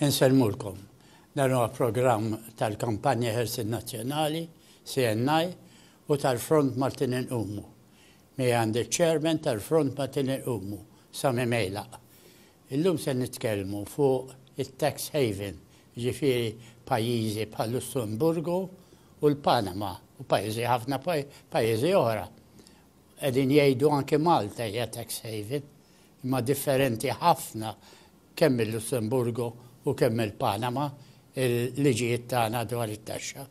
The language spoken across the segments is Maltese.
Insellmulkom. Dan huwa programm tal-Kampanja Ħelsien Nazzjonali, CNI, u tal-Front Maltin Inqumu. Miegħi għandi ċ-Chairman tal-Front Maltin Inqumu, Sami Mejlaq. Illum se nitkellmu fuq it-tax haven, jiġifieri pajjiżi bħal-Lussemburgu u l-Panama, u pajjiżi ħafna pajjiżi oħra. Qegħdin jgħidu anki Malta hija tax haven. imma differenti ħafna kemm il-Lussemburgu u kemm il-Panama il-liġijiet tagħna dwar it-taxxa.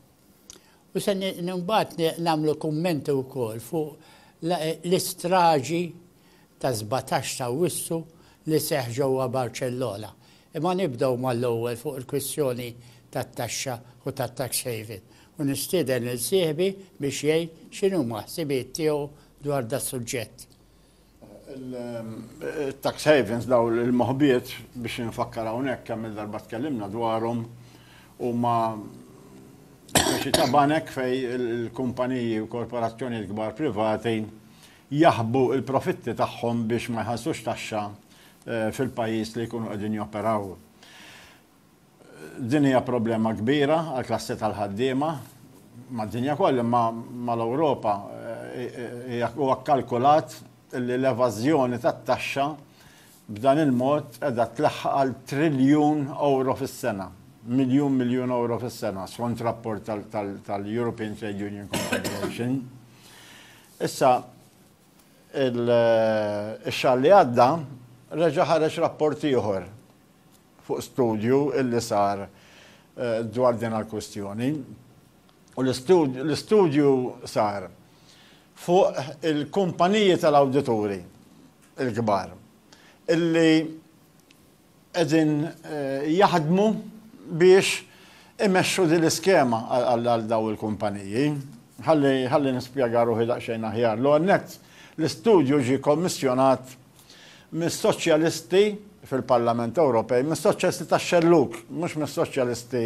U se mbagħad nagħmlu kummenti wkoll fuq l-istraġi ta' 17 ta' Wissu li seħħ ġewwa Barċellona. Imma nibdew mal-ewwel fuq il-kwistjoni tat-taxxa u tat-tax haven u nistieden lil sieħbi biex jgħid x'inhuma ħsibijiet tiegħu dwar das-suġġett. Il-tax havens daw il-moħbiet biex infakkar hawnhekk kemm il-darba tkellimna dwarhom huma xi ta' banek fej il-kumpaniji u korporazzjonijiet kbar privati jaħbu il-profitti tagħhom biex ma jħallsux taxxa eh, fil-pajjiż li jkunu qegħdin joperaw. Din hija problema kbira għall-klassi tal-ħaddiema mad-dinja kollha imma mal-Ewropa huwa kkalkulat li l-evażjoni tat-taxxa b'dan il-mod qiegħda tlaħħaq għal triljun ewro fis-sena, miljun miljun ewro fis-sena, skont rapport tal-European Trade Union Confederation. Issa, ix-xahar li għadda reġa' ħareġ rapport ieħor fuq studju illi sar dwar din għall-kwistjoni u l-istudju sar fuq il-kumpaniji tal-awdituri l-kbar illi qegħdin jaħdmu biex imexxu din l-iskema għal dawn il-kumpaniji. Ħalli nispjega ruħi daqsxejn aħjar. L-ewwel nett, l-istudju ġie kommissjonat mis-Soċjalisti fil-Parlament Ewropej, mis-Soċjalisti tax-xellug, mhux mis-Soċjalisti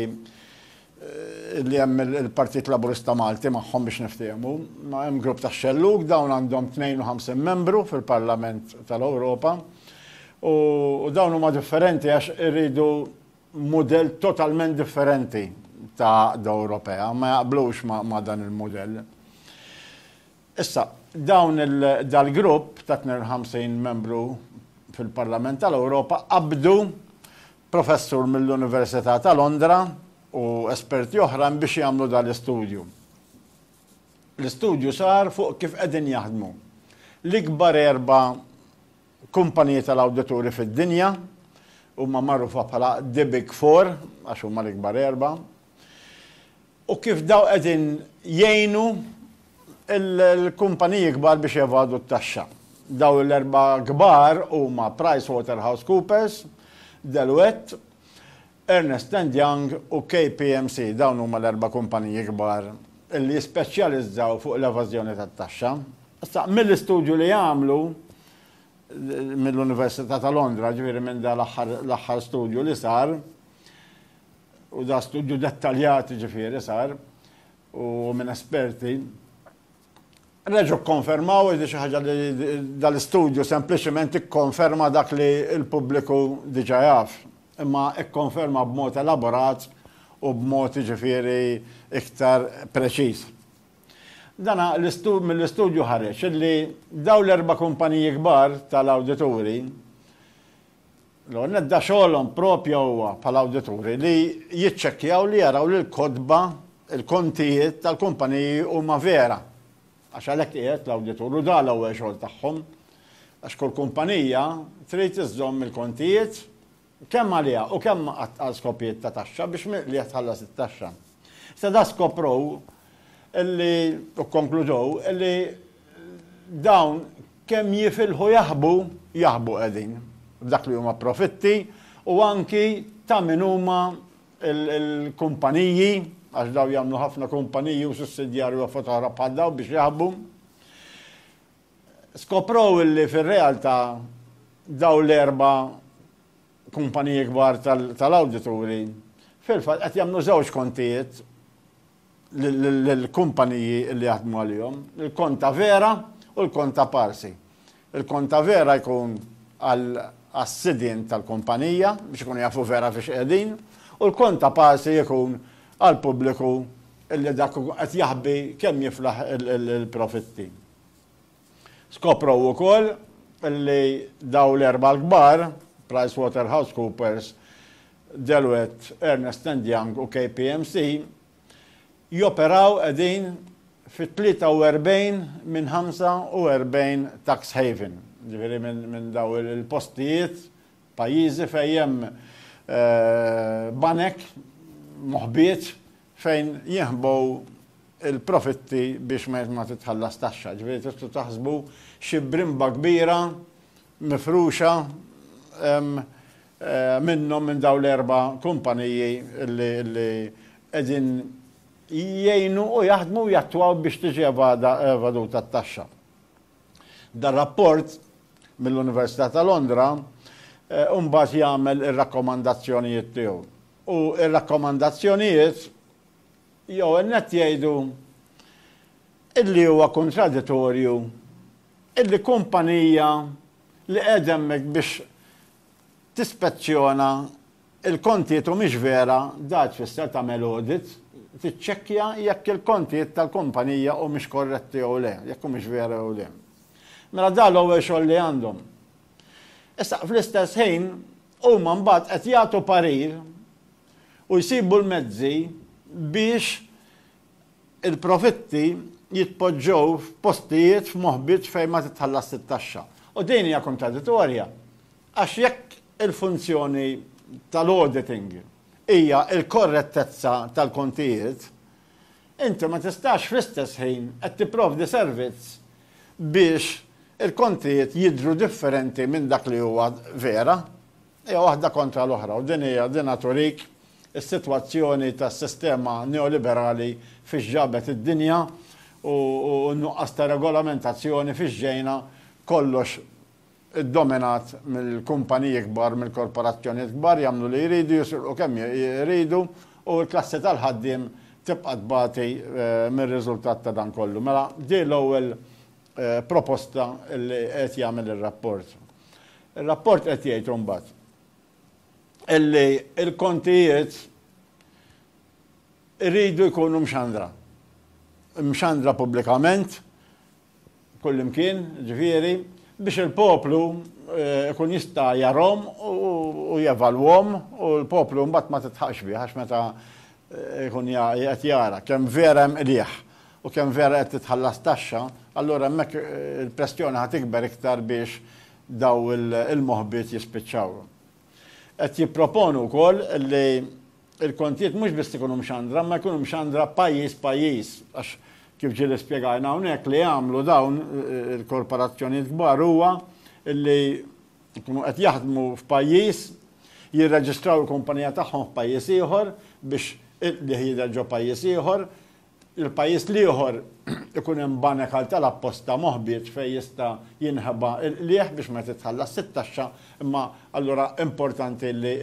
li hemm il-Partit Laburista Malti magħhom biex niftehmu, ma hemm grupp tax-xellug dawn għandhom 52 membru fil-Parlament tal-Ewropa u dawn huma differenti għax iridu mudell totalment differenti ta' Ewropea, ma jaqblux ma' dan il-mudell. Issa, dawn il, dal-grupp ta' 52 membru fil-Parlament tal-Ewropa qabbdu professur mill-Università ta' Londra u esperti oħrajn biex jagħmlu dal-istudju. L-istudju sar fuq kif qegħdin jaħdmu l-ikbar erba' kumpaniji tal-awdituri fid-dinja, huma magħrufa bħala the big four għax huma l-ikbar erba', u kif dawn qegħdin jgħinu l-kumpaniji kbar biex jevadu t-taxxa. Dawn l-erba' kbar huma PricewaterhouseCoopers, Deloitte, Ernest and Young u KPMC. Dawn huma l-erba' kumpaniji kbar li jispeċjalizzaw fuq l-evażjoni tat-taxxa. Issa, mill-istudju li għamlu mill-Università ta' Londra, ġifieri minn dan l-aħħar studju li sar, U da studju dettaljat jiġifieri sar u minn esperti reġgħu kkonfermaw li xi ħaġa li dal-istudju sempliċement ikkonferma dak li l-pubbliku diġà jaf, imma ikkonferma b'mod elaborat u b'mod jiġifieri iktar preċiż. Dan mill-istudju ħareġ li dawn l-erba' kumpaniji kbar tal-awdituri L-ewwel nett da xogħolhom proprja huwa bħala awdituri li jiċċekkjaw li jaraw li l-kotba, il-kontijiet tal-kumpaniji huma vera. Għax għalhekk qiegħed l-awditur u da l-ewwel xogħol tagħhom. Għax kull kumpanija trid iżżomm il-kontijiet kemm għaliha u kemm għal skopijiet ta' taxxa biex li qed tħallas it-taxxa. Issa da skoprow illi u kkonkludow illi Dawn kemm jifilħu jaħbu, jaħbu qegħdin, f'dak li huma profitti u anki ta' min huma l-kumpaniji, għax dawn jagħmlu ħafna kumpaniji u sussidjarji u affarijiet oħra bħal dawn biex jaħbu. Skoprow illi fir-realtà dawn l-erba' kumpaniji kbar tal-awdituri fil-fatt qed jagħmlu żewġ kontijiet l-kumpaniji li jaħdmu għalihom, il-konta vera u l-konta parsi. Il-konta vera jkun għas-sidien tal-kumpanija biex ikunu jafu vera fiex qiegħdin u l-konta parsi jkun għall-pubbliku li dak qed jaħbi kemm jiflaħ il-profitti. Skoprew ukoll li dawn l-erbgħa l-kbar, PricewaterhouseCoopers, Deloitte, Ernest and Young u KPMC, joperaw qegħdin fi 43 minn 45 tax haven, jiġifieri minn dawn il-postijiet, pajjiżi fejn hemm banek moħbiet fejn jinħbu l-profitti biex ma titħallas taxxa. Ġifieri tistgħu taħsbu xi brimba kbira mifruxa minnhom minn dawn l-erba' kumpaniji li qegħdin jgħinu u jaħdmu u jattwaw biex tiġi evaduta t-taxxa. Dan rapport mill-Università ta' Londra mbagħad jagħmel ir-rakkomandazzjonijiet tiegħu. u r-rakkomandazzjonijiet l-ewwel nett jgħidu illi huwa kuntraditorju illi kumpanija li qiegħda hemmhekk biex tispezzjona l-kontijiet u mhix vera dak tfisser tagħmel audit, tiċċekkja jekk il-kontijiet tal-kumpanija humiex korretti jew le, jekk humiex vera jew le. Mela dan l-ewwel xogħol li għandhom. Issa, fl-istess ħin, Huma mbagħad qed jagħtu parir u jsibu l-mezzi biex il-profitti jitpoġġew f'postijiet, f'moħbiet fejn ma titħallasx it-taxxa. U din hija kontraditorja għax jekk il-funzjoni tal-auditing hija l-korrettezza tal-kontijiet, inti ma tistax fl-istess ħin qed tipprovdi servizz biex il-kontijiet jidhru differenti minn dak li huwa vera. Hija waħda kontra l-oħra u din hija dinha turik is-sitwazzjoni tas-sistema neoliberali fiex ġabet id-dinja u n-nuqqas ta' regolamentazzjoni fiex ġejna kollox iddominat mill-kumpaniji kbar, mill-korporazzjonijiet kbar, jagħmlu li jridu, jisirqu kemm iridu u l-klassi tal-ħaddiem tibqa' tbati mir-riżultat ta' dan kollu. Mela din l-ewwel proposta li qed jagħmel ir-rapport. Ir-rapport qed jgħid imbagħad illi l-kontijiet iridu jkunu mxandra. Imxandra pubblikament kullimkien, jiġifieri, biex il-poplu jkun jista' jarahom u jevalwahom u l-poplu mbagħad ma tidħaqx bih għax meta jkun qed jara kemm vera hemm qligħ u kemm vera qed titħallas taxxa, allura hemmhekk il-pressjoni ħa tikber iktar biex dawn il-moħbiet jispiċċaw. Qed jipproponu wkoll li Il-kontijiet mhux biss ikunu mxandra, imma jkunu mxandra pajjiż pajjiż, għax kif ġieli spjegajna hawnhekk li jagħmlu dawn il-korporazzjonijiet kbar huwa li jkunu qed jaħdmu f'pajjiż, jirreġistraw il-kumpanija tagħhom f'pajjiż ieħor biex il-qligħ jidher ġo pajjiż ieħor, il-pajjiż l-ieħor ikun hemm banek għal tal apposta moħbieġ fejn jista' jinħeba l-qligħ biex ma titħallasx it-taxxa imma allura importanti li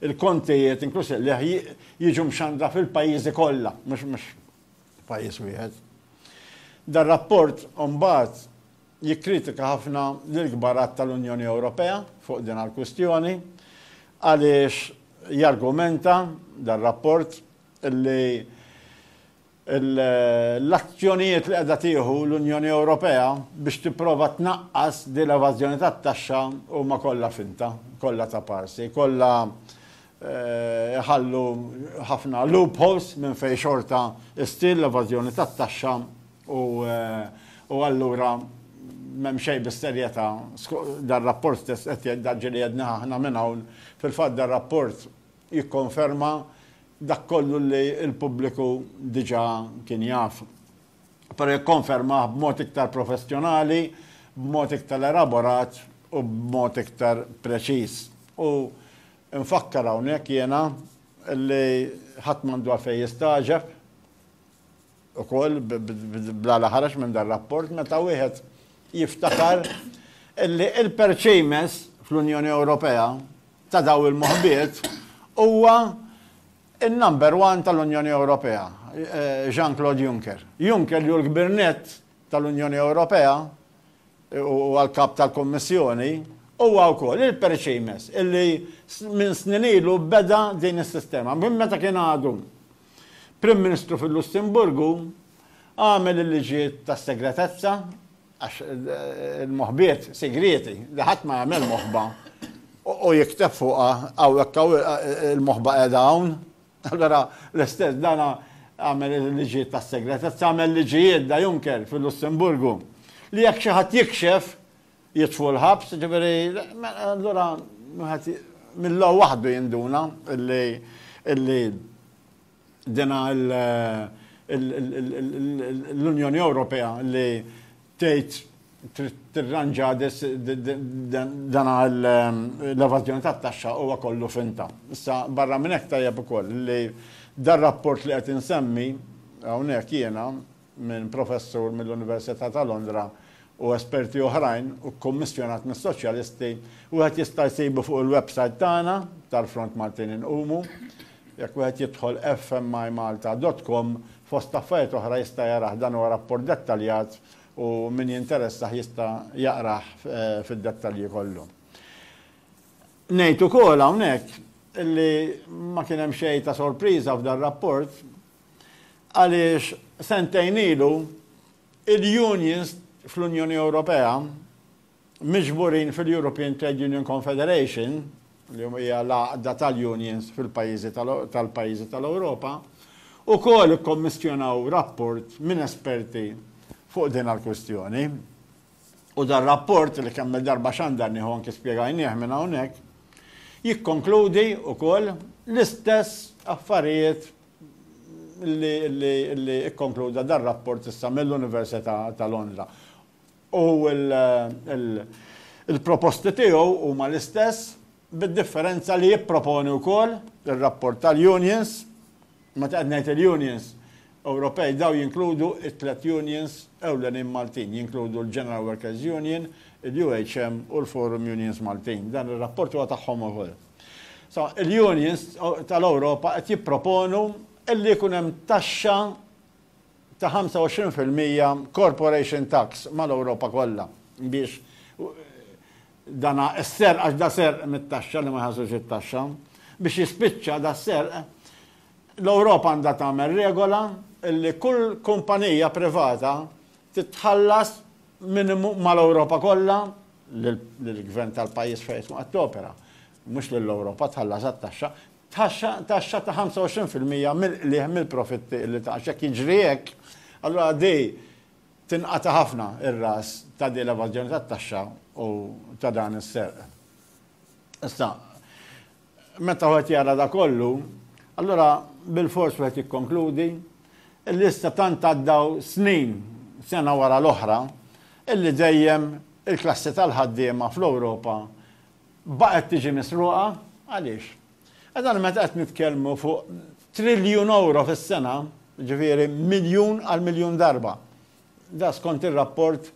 l-kontijiet inkluż il-qligħ jiġu mxandra fil-pajjiżi kollha mhux f'pajjiż wieħed. Dar-rapport imbagħad jikkritika ħafna lill-kbar għadd tal-Unjoni Ewropea fuq din għall-kwistjoni għaliex jargumenta dar-rapport li l-azzjonijiet li qiegħda tieħu l-Unjoni Ewropea biex tipprova tnaqqas din l-evażjoni tat-taxxa huma kollha finta, kollha ta' parsi, kollha jħallu ħafna loopholes minn fejn xorta ssir l-evażjoni tat-taxxa u allura m'hemm xejn bis-serjetà. Dan rapport stess qed jgħid, dak ġieli għednieh aħna minn hawn, fil-fatt dar-rapport jikkonferma dak kollu li l-pubbliku diġà kien jaf, però jikkonfermah b'mod iktar professjonali, b'mod iktar elaborat u b'mod iktar preċiż. U nfakkar hawnhekk jiena li ħadd m'għandu għalfejn jistagħġeb. ukoll bla la ħareġ minn dar-rapport meta wieħed jiftakar li l-perċejmess fl-Unjoni Ewropea ta' dawn il-moħbiet huwa n-number one tal-Unjoni Ewropea, Jean-Claude Juncker. Juncker li hu l-kbir nett tal-Unjoni Ewropea u għall-Kap tal-Kummissjoni huwa wkoll il-perċejmess illi minn snin ilu beda din is-sistema minn meta kien għadu Prim Ministru fil-Lussemburgu għamel il-liġijiet tas-segretezza, għax il-moħbiet sigrieti li ħadd ma jagħmel moħba u jikteb fuqha hawnhekk hawn il-moħba qiegħda hawn. Allura l-istess dan għamel il-liġijiet tas-segretezza, għamel liġijiet da Juncker fil-Lussemburgu li jekk xi ħadd jikxef jitfu l-ħabs, ġifieri allura wieħed mill-law waħdu jinduna illi illi dina l-Unjoni Ewropea li tgħid tirranġa dan l-evażjoni tat-taxxa huwa kollu finta. Issa barra minn hekk tajjeb ukoll li dar rapport li qed insemmi hawnhekk jiena minn professur mill-Università ta' Londra u esperti oħrajn u kkummissjonat mis-Soċjalisti, wieħed jista' jsibu fuq il-websajt tagħna tal-Front Maltin Inqumu. Jekk wieħed jidħol fmimalta dot com, fost affarijiet oħra jista' jarah, dan huwa rapport dettaljat u min jinteressah jista' jaqrah fid-dettalji kollu. Ngħid ukoll hawnhekk li ma kien hemm xejn ta' sorpriża f'dan rapport, għaliex sentejn ilu il-unions fl-Unjoni Ewropea miġburin fil-European Trade Union Confederation, li hija l-għaqda tal-unions fil-pajjiżi tal-pajjiżi tal-Ewropa, u kol ikkommissjonaw rapport minn esperti fuq din għal-kwistjoni. U dar rapport li kemm il-darba xandar nieħu anki spjegajnieh minn hawnhekk, jikkonkludi wkoll l-istess affarijiet li kkonkluda dan rapport issa mill-Università ta' Londra. U l-proposti tiegħu huma l-istess bid-differenza li jipproponi wkoll ir-rapport tal-unions, meta qed ngħid il-unions Ewropej dawn jinkludu t-tliet unions ewlenin Maltin, jinkludu l-General Workers' Union, il-UHM u l-Forum Unions Maltin. Dan ir-rapport huwa tagħhom ukoll. So, il-unions tal-Ewropa qed jipproponu illi jkun hemm taxxa ta' 25% corporation tax mal-Ewropa kollha biex dana s-serq għax da serq mit-taxxa li ma jħassux it-taxxa biex jispiċċa da serq l-Ewropa għandha tagħmel regola illi kull kumpanija privata titħallas minimu mal-Ewropa kollha, lill-gvern tal-pajjiż fejn tkun qed topera, mhux lill-Ewropa, tħallas għat-taxxa, taxxa taxxa ta' 25 fil-mija mill-qligħ mill-profitti li tgħax. Jekk jiġri hekk, allura di tinqata' ħafna r-ras ta' din l-evażjoni tat-taxxa u ta' dan is-serq. Issa, Meta wieħed jara dak kollu, allura bilfors wieħed jikkonkludi illi issa tant għaddew snin sena wara l-oħra illi dejjem il-klassi tal-ħaddiema fl-Ewropa baqgħet tiġi misruqa. Għaliex? Għax aħna meta qed nitkellmu fuq triljun ewro fis-sena, ġifieri miljun għal miljun darba. Da skont ir-rapport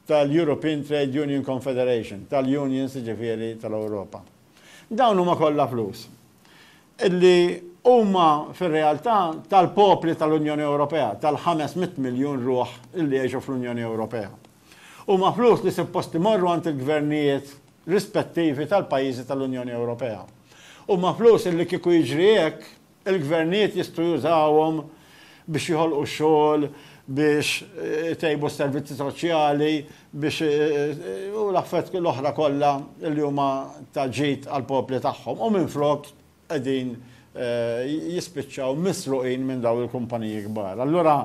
tal-European Trade Union Confederation, tal-unions jiġifieri tal-Ewropa. Dawn huma kollha flus li huma fir-realtà tal-popli tal-Unjoni Ewropea, tal-ħames mitt miljun ruħ li jgħixu fl-Unjoni Ewropea. Huma flus li suppost imorru għand il-gvernijiet rispettivi tal-pajjiżi tal-Unjoni Ewropea. Huma flus li kieku jiġri hekk Il-gvernijiet jistgħu jużawhom biex joħolqu xogħol, biex itejbu s-servizzi soċjali, biex u l-affarijiet l-oħra kollha li huma ta' ġid għall-popli tagħhom u minflok qegħdin jispiċċaw misruqin minn dawn il-kumpaniji kbar. Allura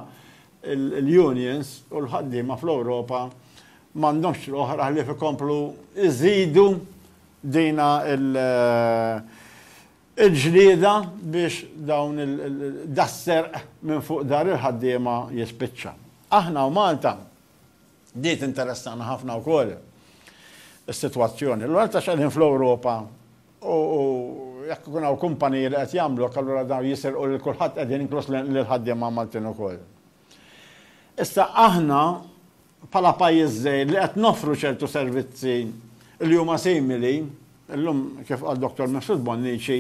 l-unions u l-ħaddiema fl-Ewropa m'għandhomx triq oħra ħlief ikomplu jżidu dina Il-ġlieda biex dawn il, das-serq minn fuq dar il-ħaddiema jispiċċa. Aħna u Malta, di tinteressana ħafna wkoll is-sitwazzjoni. Allura għaliex qegħdin fl-Ewropa u jekk ikun hawn kumpaniji li qed jagħmluk allura dawn jisirqu lil kulħadd qegħdin inkluż lill-ħaddiema Maltin ukoll. Issa aħna bħala pajjiż żgħir li qed noffru ċertu servizzi li huma simili, illum kif qal Dottor Mifsud Bonnici,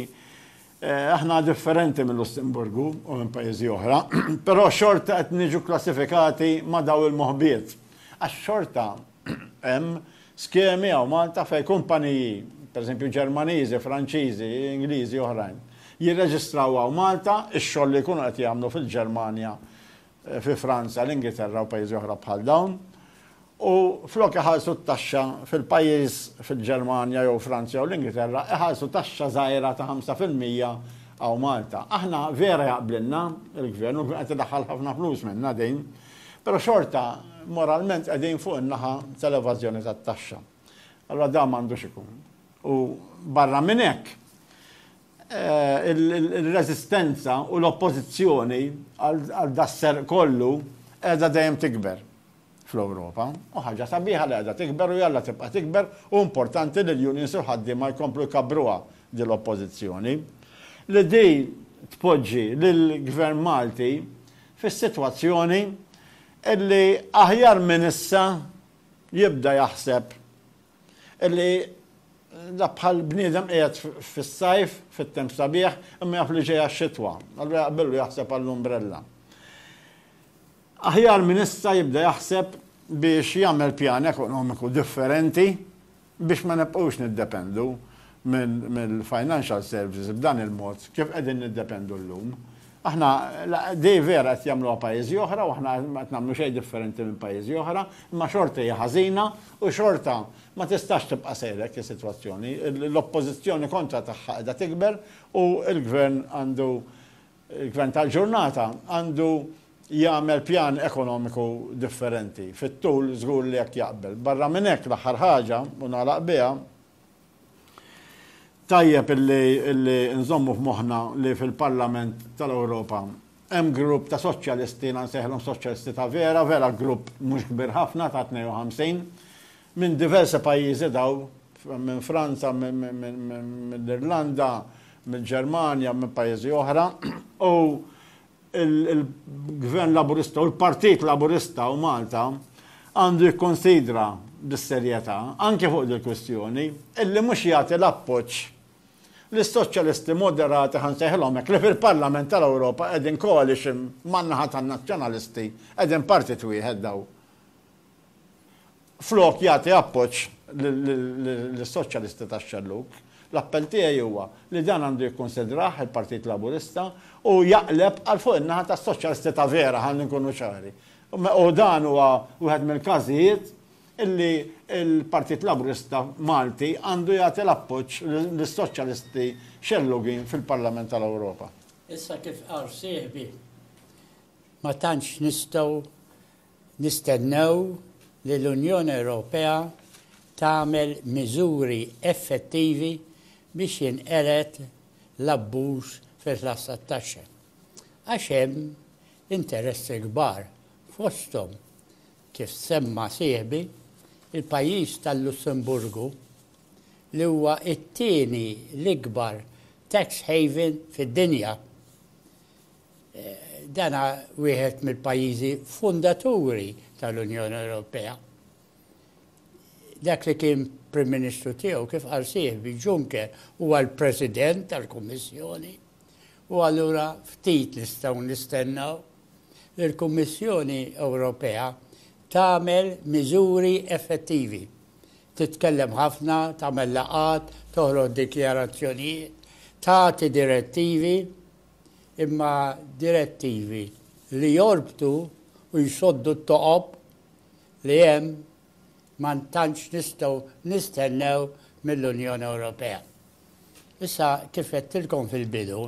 aħna differenti mil-Lussemburgu u minn pajjiżi oħra, però xorta qed niġu kklassifikati ma' dawn il-moħbiet. Għax xorta hemm skemi hawn Malta fejn kumpaniji, pereżempju Ġermaniżi, Franċiżi, Ingliżi, oħrajn, jirreġistraw hawn Malta x-xogħol li jkunu qed jagħmlu fil-Ġermanja fi Franza, l-Ingilterra u pajjiżi oħra bħal dawn, u flok iħallsu t-taxxa fil-pajjiż, fil-Ġermanja jew Franza jew l-Ingilterra, iħallsu taxxa żgħira ta' ħamsa fil-mija hawn Malta. Aħna vera jaqblilna l-Gvern u qed idaħħal ħafna flus minnha din, però xorta moralment qegħdin fuq in-naħa tal-evażjoni tat-taxxa. Allura dan m'għandux ikun. U barra minn hekk, Ir-reżistenza u l-oppożizzjoni għal das-serq kollu qiegħda dejjem tikber fl-Ewropa. U ħaġa sabiħa li qiegħda tikber u jalla tibqa' tikber u importanti li l-unions u l-ħaddiema jkomplu jkabbruha din l-oppożizzjoni li din tpoġġi lill-Gvern Malti fis-sitwazzjoni li aħjar minn issa jibda jaħseb Illi da bħal bniedem qiegħed fis-sajf, fit-temp sabiħ, imma jaf li ġejja x-xitwa. Allura jaqbillu jaħseb għall-umbrella. Aħjar minn issa jibda jaħseb biex jagħmel pjan ekonomiku differenti biex ma nibqgħux niddependu mill-financial services b'dan il-mod kif qegħdin niddependu llum. Aħna, dei vera qed jagħmluha pajjiżi oħra u aħna ma qed nagħmlu xejn differenti minn pajjiżi oħra, imma xorta hija ħażina u xorta ma tistax tibqa' sejra hekk is-sitwazzjoni. L-oppożizzjoni kontra tagħha qiegħda tikber u l-Gvern għandu, il-Gvern tal-ġurnata għandu jagħmel pjan ekonomiku differenti. Fit-tul żgur li hekk jaqbel. Barra minn hekk l-aħħar ħaġa, u nagħlaq biha, Tajjeb illi nżommu f'moħħna li fil-Parlament tal-Ewropa hemm grupp ta' soċjalisti, jiena nsejħilhom soċjalisti ta' vera, vera grupp mhux kbir ħafna ta' 52, minn diversi pajjiżi daw, minn Franza, mill-Irlanda, mill-Ġermanja, minn pajjiżi oħra, u il-Gvern Laburista u l-Partit Laburista u Malta għandu jikkunsidra bis-serjetà, anke fuq dil-kwistjoni, illi mhux jagħti l-appoġġ lis-Soċjalisti moderati, ħa nsejħilhom hekk, li fil-Parlament tal-Ewropa qegħdin coalition man-naħa tan-Nazzjonalisti, qegħdin partit wieħed dawn. Flok jagħti appoġġ lis-Soċjalisti tax-xellug, l-appell tiegħi huwa li dan għandu jikkunsidrah il-Partit Laburista u jaqleb għal fuq in-naħa tas-Soċjalisti ta' vera, ħalli nkunu ċari. U dan huwa wieħed mill-każijiet illi l-Partit Laburista Malti għandu jagħti l-appoġġ lis-Soċjalisti xellugin fil-Parlament tal-Ewropa. Issa kif qal sieħbi, ma tantx nistgħu Nistennew li l-Unjoni Ewropea tagħmel miżuri effettivi biex jinqered l-abbuż fil-ħlas tat-taxxa, għax hemm interessi kbar, fosthom, kif semma sieħbi, il-pajjiż tal-Lussemburgu, li huwa t-tieni l-ikbar tax haven fid-dinja. Dan wieħed mill-pajjiżi fundaturi tal-Unjoni Ewropea. Dak li kien Prim Ministru tiegħu kif qal sieħbi Juncker huwa l-President tal-Kummissjoni u allura ftit nistgħu nistennew li l-Kummissjoni Ewropea tagħmel miżuri effettivi. Titkellem ħafna, tagħmel laqgħat, toħroġ dikjarazzjonijiet, tagħti direttivi, imma direttivi li jorbtu u jsoddu t-toqob li hemm ma tantx nistgħu nistennew mill-Unjoni Ewropea. Issa, kif għedtilkom fil-bidu,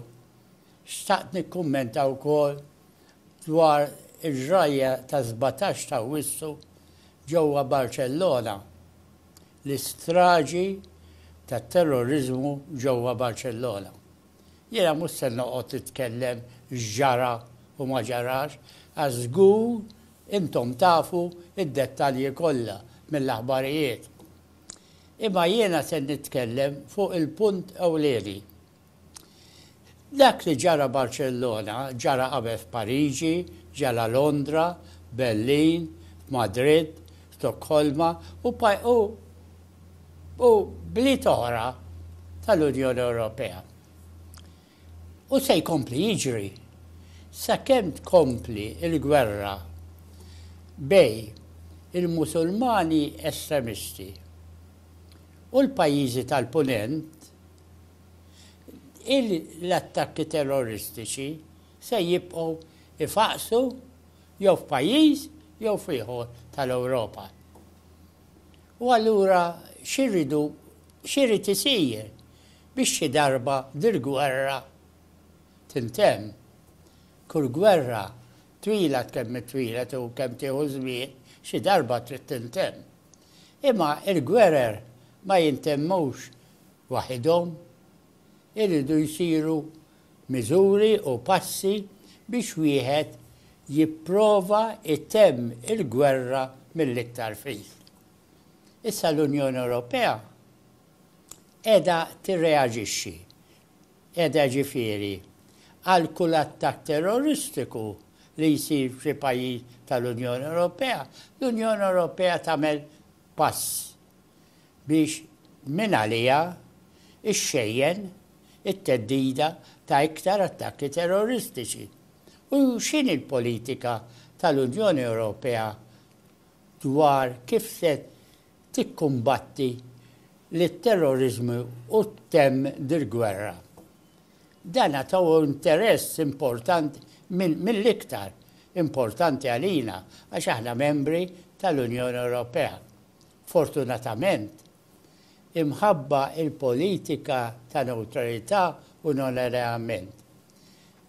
xtaqt nikkummenta wkoll dwar il-ġrajja tas-sbatax ta' Awwissu ġewwa Barċellona, l-istraġi tat-terroriżmu ġewwa Barċellona. Jiena mhux se noqgħod nitkellem x'ġara u ma ġarax għax żgur intom tafu d-dettalji kollha mill-aħbarijiet. Imma jiena se nitkellem fuq il-punt ewlieni. Dak li ġara Barċellona ġara qabel f'Pariġi, ġara Londra, Berlin, f'Madrid, Stokkolma u u bliet oħra tal-Unjoni Ewropea. U se jkompli jiġri sakemm tkompli l-gwerra bejn il-Musulmani estremisti u l-pajjiżi tal-Punent, l-attakki terroristiċi se jibqgħu jfaqqsu jew f'pajjiż jew f'ieħor tal-Ewropa. U allura xi rridu, xi jrid isir biex xi darba dil-gwerra tintemm? Kull gwerra, twila kemm hi twila u kemm tieħu żmien, xi darba trid tintemm. Imma l-gwerer ma jintemmux waħidhom, Iridu jsiru miżuri u passi biex wieħed jipprova jtemm il-gwerra mill-iktar fis. Issa l-Unjoni Ewropea qiegħda tirreaġixxi, qiegħda jiġifieri, għal kull attakk terroristiku li jsir f'xi pajjiż tal-Unjoni Ewropea, l-Unjoni Ewropea tagħmel pass biex mingħaliha xxejjen it-theddida ta' iktar attakki terroristiċi, u x'inhi l-politika tal-Unjoni Ewropea dwar kif se tikkumbatti lit-terroriżmu u ttemm dil-gwerra. Dan għad hu interess importanti mill-iktar importanti għalina għax aħna membri tal-Unjoni Ewropea. Fortunatament, imħabba l-politika ta' newtralità u non-alleament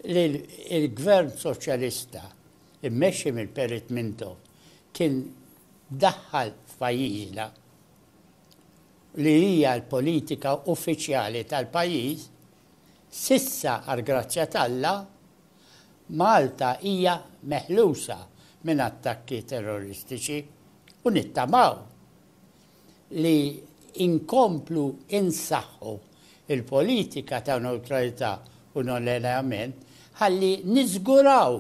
li l-Gvern Soċjalista mmexxi minn Perit Mintoff kien daħħal f'pajjiżna, li hija l-politika uffiċjali tal-pajjiż, S'issa għall-grazzja t'Alla, Malta hija meħlusa minn attakki terroristiċi u nittamaw li nkomplu nsaħħu l-politika ta' newtralità u non-allenjament ħalli niżguraw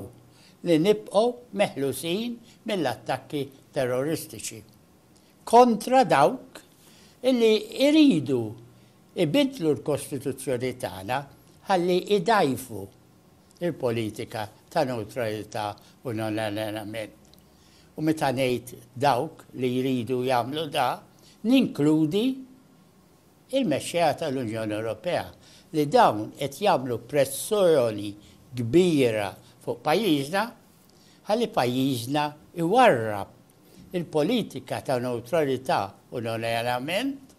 li nibqgħu meħlusin mill-attakki terroristiċi. kontra dawk li jridu jbiddlu l-Kostituzzjoni tagħna ħalli jdgħajfu l-politika ta' newtralità u non-allenjament. U meta ngħid dawk li jridu jagħmlu dan, ninkludi l-mexxejja tal-Unjoni Ewropea li dawn qed jagħmlu pressjoni kbira fuq pajjiżna ħalli pajjiżna jwarrab Il-politika ta' newtralità u non-alleanjament,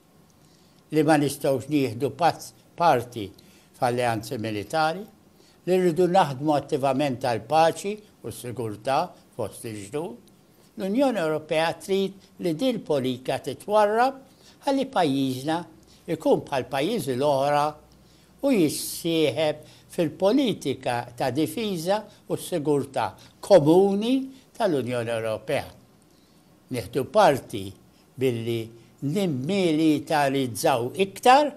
li ma nistgħux nieħdu parti f'alleanzi militari, li rridu naħdmu attivament għall-paċi u s-sigurtà fost il-ġnus. L-Unjoni Ewropea trid li din il-politika titwarrab ħalli pajjiżna jkun bħall-pajjiżi l-oħra u jissieħeb fil-politika ta' difiża u sigurtà komuni tal-Unjoni Ewropea. Nieħdu parti billi nimmilitarizzaw iktar,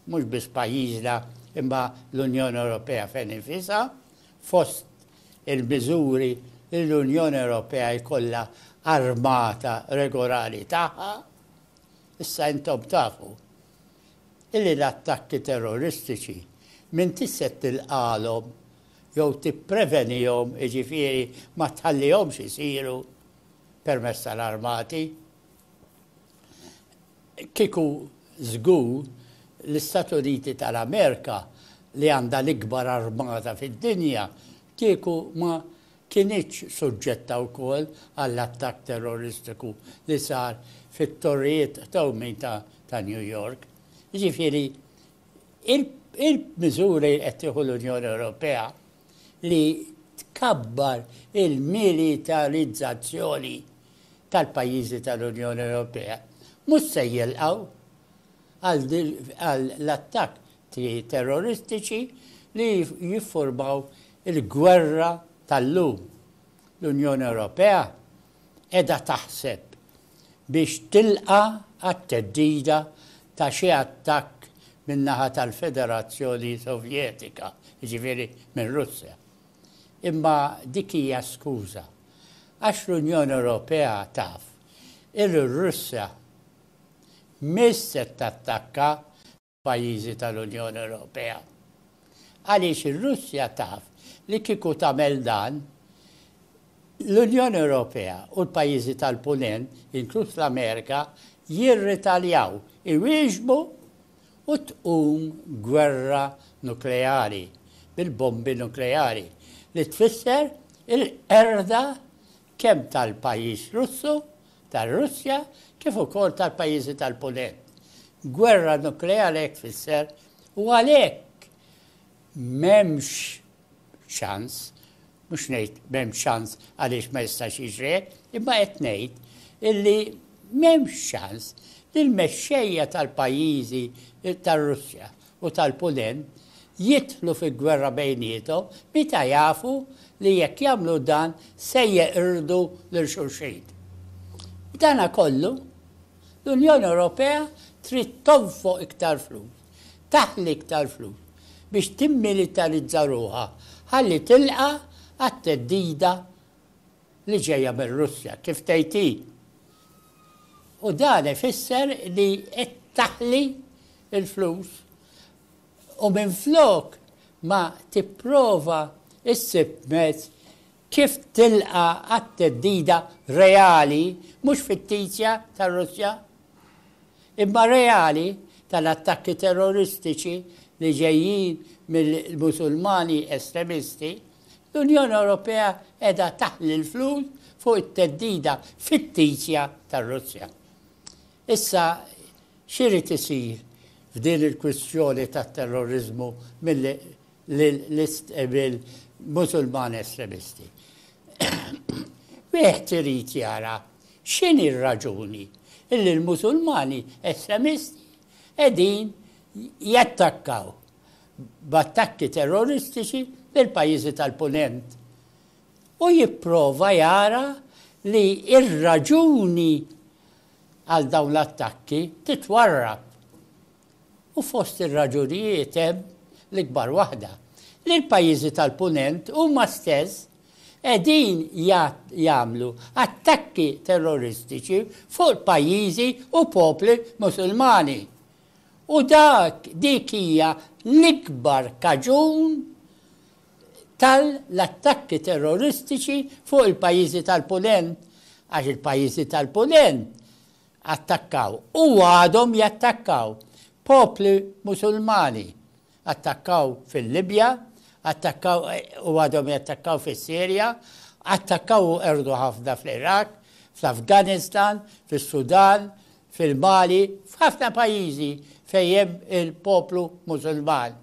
mhux biss pajjiżna imma l-Unjoni Ewropea fejn infisha, fost il-miżuri li l-Unjoni Ewropea jkollha armata regolari tagħha. Issa intom tafu Illi l-attakki terroristiċi m'intix se tilqagħlhom jew tipprevenihom, jiġifieri ma tħallihomx isiru permezz tal-armati. Kieku żgur l-Istati Uniti tal-Amerika li għandha l-ikbar armata fid-dinja kieku ma kinitx suġġetta wkoll għall-attakk terroristiku li sar fit-Torrijiet Qtawmin ta' New York. Jiġifieri, il-miżuri li qed tieħu l-Unjoni Ewropea li tkabbar il-militarizzazzjoni tal-pajjiżi tal-Unjoni Ewropea mhux se jilqgħu għall-attakk terroristiċi li jiffurmaw il-gwerra tal-lum. L-Unjoni Ewropea qiegħda taħseb biex tilqa' għat-theddida ta' xi attakk min-naħa tal-Federazzjoni Sovjetika, jiġifieri mir-Russja. Imma dik hija skuża, għax l-Unjoni Ewropea taf illi r-Russja mhix se tattakka, pajjiżi tal-Unjoni Ewropea. Għaliex ir-Russja taf li kieku tagħmel dan, l-Unjoni Ewropea u l-pajjiżi tal-Punent, inkluż l-Amerika, jirritaljaw, iwieġbu u tqum gwerra nukleari bil-bombi nukleari li tfisser il-qerda kemm tal-pajjiż Russu, tar-Russja, kif ukoll tal-pajjiżi tal-Punent. Gwerra nukleari hekk tfisser u għalhekk m'hemmx ċans, mhux ngħid m'hemmx ċans għaliex ma jistax jiġri hekk, imma qed ngħid illi m'hemmx ċans li l-mexxejja tal-pajjiżi tar-Russja u tal-Punent jidħlu fi gwerra bejniethom meta jafu li jekk jagħmlu dan se jeqirdu lil xulxin. B'dana kollu, l-Unjoni Ewropea trid tonfoq iktar flus, taħli iktar flus biex timmilitarizza ruħha ħalli tilqa' għat-theddida li ġejja mir-Russja, kif tgħid hi. U dan ifisser li qed taħli il-flus u minflok ma tipprova ssib mezz kif tilqa' għat-theddida reali, mhux fittizja, tar-Russja, imma reali, tal-attakki terroristiċi li ġejjin mill-Musulmani estremisti, l-Unjoni Ewropea qiegħda taħli l-flus fuq it-theddida fittizja tar-Russja. Issa, x'irid isir f'din il-kwistjoni tat-terroriżmu mill-Musulmani estremisti? Wieħed irid jara x'inhi r-raġuni li l-Musulmani estremisti qegħdin jattakkaw b'attakki terroristiċi lill-pajjiżi tal-Punent u jipprova jara li r-raġuni għal dawn l-attakki titwarrab u fost ir-raġunijiet hemm l-ikbar waħda, li l-pajjiżi tal-Punent huma stess qegħdin jagħmlu attakki terroristiċi fuq pajjiżi u popli Musulmani. U dak, dik hija l-ikbar kaġun tal-attakki terroristiċi fuq il-pajjiżi tal-Punent, għax il-pajjiżi tal-Punent attakkaw u għadhom jattakkaw popli Musulmani. Attakkaw fil-Libja, attakkaw u għadhom jattakkaw fis-Sirja, attakkaw u qerdu ħafna fl-Iraq, fl-Afganistan, fis-Sudan, fil-Mali, f'ħafna pajjiżi fejn hemm il-poplu Musulman.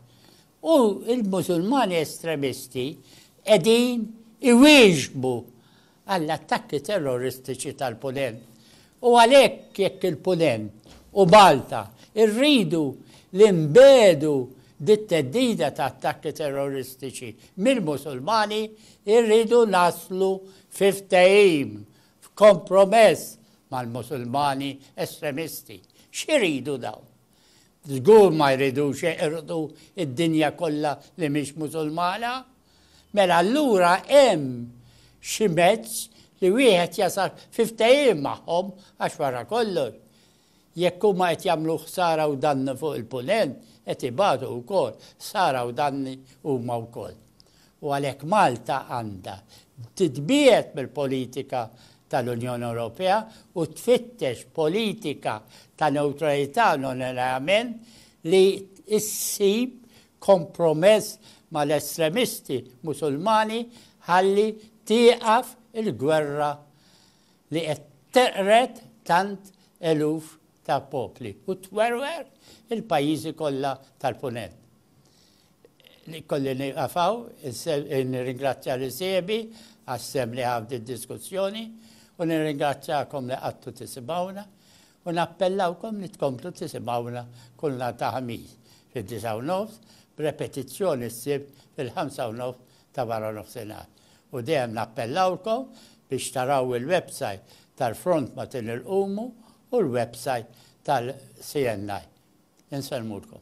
U l-Musulmani estremisti qegħdin iwieġbu għall-attakki terroristiċi tal-Punent. U għalhekk jekk il-Punent u Malta rridu li nbiegħdu bit-theddida ta' attakki terroristiċi mill-Musulmani, irridu naslu fi ftehim, f'kompromess mal-Musulmani estremisti. X'iridu dawn? Żgur ma jridux jeqirdu d-dinja kollha li mhix Musulmana. Mela allura hemm xi mezz li wieħed jasal fi ftehim magħhom għax wara kollox jekk huma qed jagħmlu ħsara u dannu fuq il-Punent qed ibatu wkoll ħsara u danni huma wkoll. u għalhekk Malta għandha titbiegħed mill-politika tal-Unjoni Ewropea u tfittex politika ta' newtralità u non-alleament li ssib kompromess mal-estremisti Musulmani ħalli tieqaf il-gwerra li qed teqred tant eluf ta' popli u twerwer il-pajjiżi kollha tal-Punent. Kolli nieqaf hawn, nirringrazzja lil sieħbi għas-sehem li ħa f'din id-diskussjoni u nirringrazzjakom li qgħadtu tisimgħuna u nappellawkom li tkomplu tisimgħuna kull nhar ta' Ħamis fid-disgħa u nofs b'repetizzjoni s-Sibt fil-ħamsa u nofs ta' waranofsinhar. U dejjem nappellawlkom biex taraw il-website tal-Front Matin il-Qumu u l-website tal-CNI. Insellmulkom.